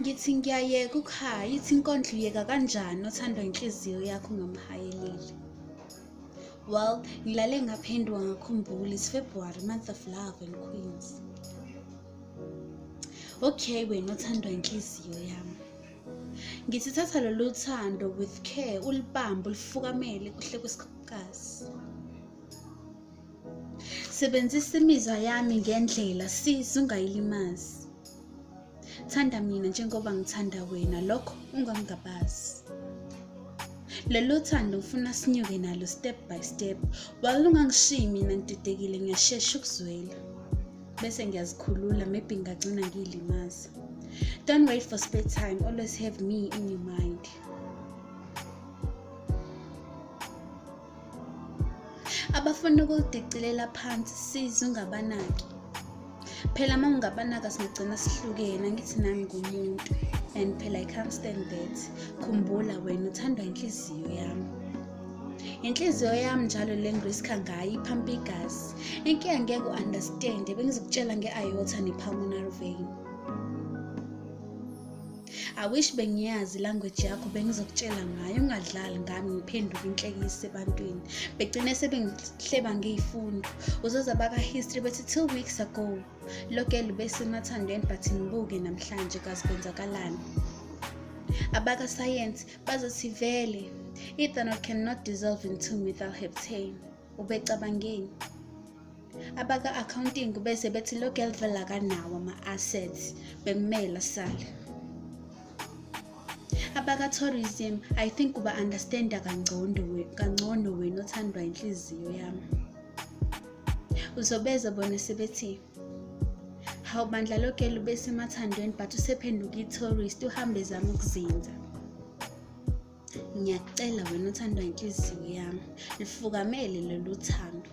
ngithi ngiyayeka ukuhaya ithi inkondlo uyeka kanjani othandwa inhliziyo yakho ngamhayelile well ngilale ngaphenduka ngakhumbula is february month of love and queens okay wena othandwa inhliziyo yami ngithi thatha lolu thando with care ulibambe ulifukamele kuhle kwesikazi sebenzisa imizwa yami ngendlela sisi ungayilimazi thanda mina njengoba ngithanda wena lokho ungangabazi lelo thando ngifuna sinyuke nalo step by step walungangishiyi mina ngididekile ngiyashesha ukuzwela bese ngiyazikhulula maybe ngagcina ngiyilimaza don't wait for spare time always have me in your mind abafuna ukudicilela phansi size ungabanaki phela uma ungabanaka singagcina sihlukene angithi nami ngumuntu and phela i can't stand that khumbula wena uthandwa inhliziyo yami inhliziyo yami njalo le ngiriska ngayo iphampa igazi inkinga ngeke u-understand bengizokutshela nge-iota ne-pulmonary vein I wish bengiyazi language yakho bengizokutshela ngayo ungadlali ngami ngiphenduke inhlekisa ebantwini begcine sebengihleba ngiyifundo uzoza baka-history bethi two weeks ago lokelu besemathandweni but ngibuke namhlanje kazi kwenzakalani abakasayensi bazothi vele ethanol cannot dissolve in two methyl heptane ubecabangeni abaka-accounting bese bethi lo girl vele akanawo ama-assets bekumele sale abaka-tourism i think uba-understanda kangcono wena othandwa inhliziyo yami uzobeza bona sebethi hawu bandla loke lube semathandweni but usephenduka i-tourist uhambe zama ukuzinza ngiyakucela wena othandwa inhliziyo yami lifukamele lolu thando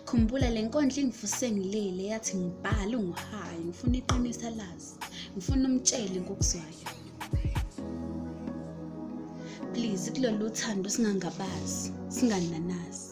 khumbula le nkondla ingivuse ngilele yathi ngibhale unguhayi ngifuna iqinisa lazi ngifuna umtshele ngokuzwayo please kulolu thando singangabazi singananazi